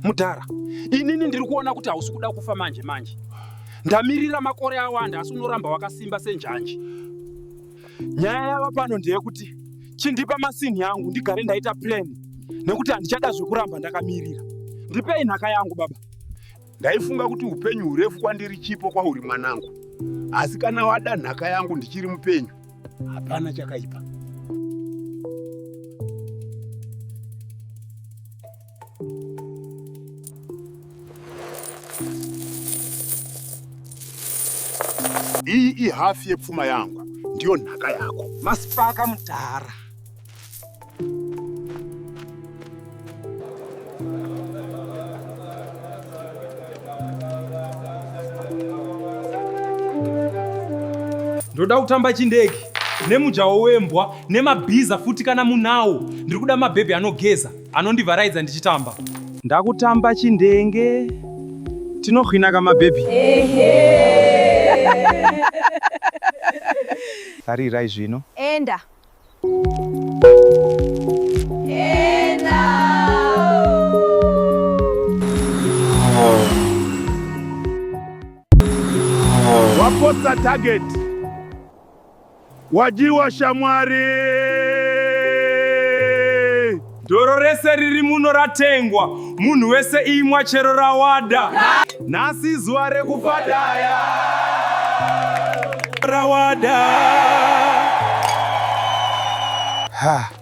Mudhara, inini ndiri kuona kuti hausi kuda kufa manje manje. Ndamirira makore awanda asi unoramba wakasimba senjanji. Nyaya yava pano ndeyekuti chindipa masinhi yangu ndigare ndaita plan nekuti handichada zvekuramba ndakamirira. Ndipei nhaka yangu baba. Ndaifunga kuti upenyu hurefu kwandiri chipo kwauri mwanangu, asi kana wada nhaka yangu ndichiri mupenyu, hapana chakaipa. Iyi ihafi yepfuma yangu, ndiyo nhaka yako. Masipaka mudhara. ndoda kutamba chindege nemujawo wembwa nemabhiza futi kana munawo ndiri kuda mabhebhi anogeza anondivaraidza ndichitamba ndakutamba chindenge tinohwina kama bhebhi tarirai zvino enda Wapotsa target. Wadyiwa shamwari. Doro rese riri muno ratengwa, munhu wese imwa chero rawada. Nhasi zuva rekufadaya rawada. Ha,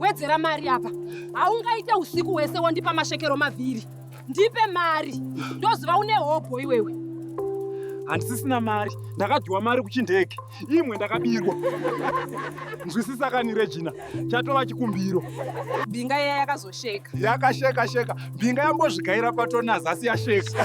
wedzera mari apa haungaite usiku hwese wondipa masvekero maviri ndipe mari ndoziva une hobho iwewe handisisina mari ndakadhiwa mari kuchindege imwe ndakabirwa nzwisisa kani regina chatova chikumbiro mbinga iya yakazosheka yakasheka sheka mbinga yambozvigaira patonazasi yasheka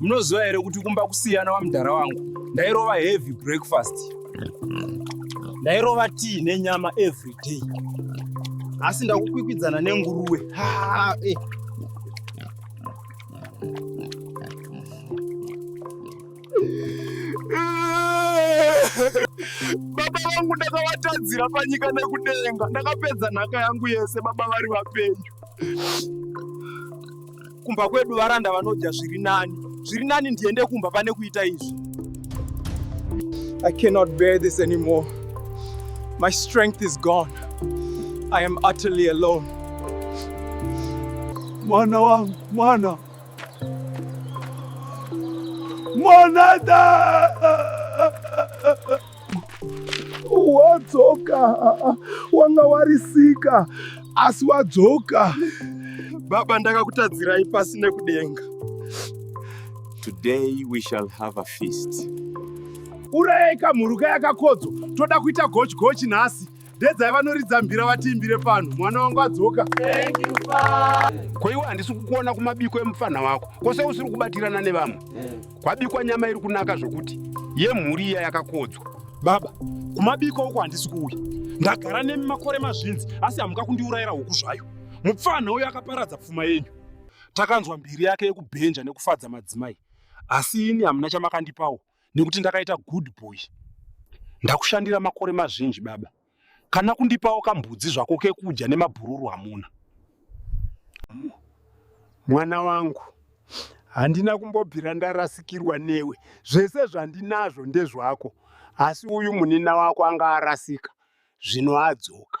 munoziva here kuti kumba kusiyana wamudhara wangu ndairova heavy breakfast ndairova tii nenyama every day asi ndakukwikwidzana nenguruwe eh. baba vangu ndakavatadzira panyika nekudenga ndakapedza nhaka yangu yese baba vari vapenyu kumba kwedu varanda vanodya zviri nani zviri nani ndiende kumba pane kuita izvi i cannot bear this anymore my strength is gone i am utterly alone mwana wangu mwana Monada wadzoka, wanga warisika asi wadzoka. Baba, ndakakutadzirai pasi nekudenga. Today we shall have a feast. Urayai kamhuruka yakakodzo, toda kuita gochi gochi nhasi. dedzai vanoridza mbira vatiimbire pano mwana wangu adzoka ko iwe handisi kukuona kumabiko emupfanha wako kwose usiri kubatirana nevamwe kwabikwa nyama iri kunaka zvokuti yemhuri iya yakakodzwa baba kumabiko uko handisi kuuya ndagara nemi makore mazvinzi asi hamuka kundiurayira huku zvayo mupfanha uyo akaparadza pfuma yenyu takanzwa mbiri yake yekubhenja nekufadza madzimai asi ini hamuna chamakandipawo nekuti ndakaita good boy ndakushandira makore mazhinji baba kana kundipawo kambudzi zvako kekudya nemabhururu hamuna mwana wangu handina kumbobvira ndarasikirwa newe zvese zvandinazvo ndezvako asi uyu munina wako anga arasika zvino adzoka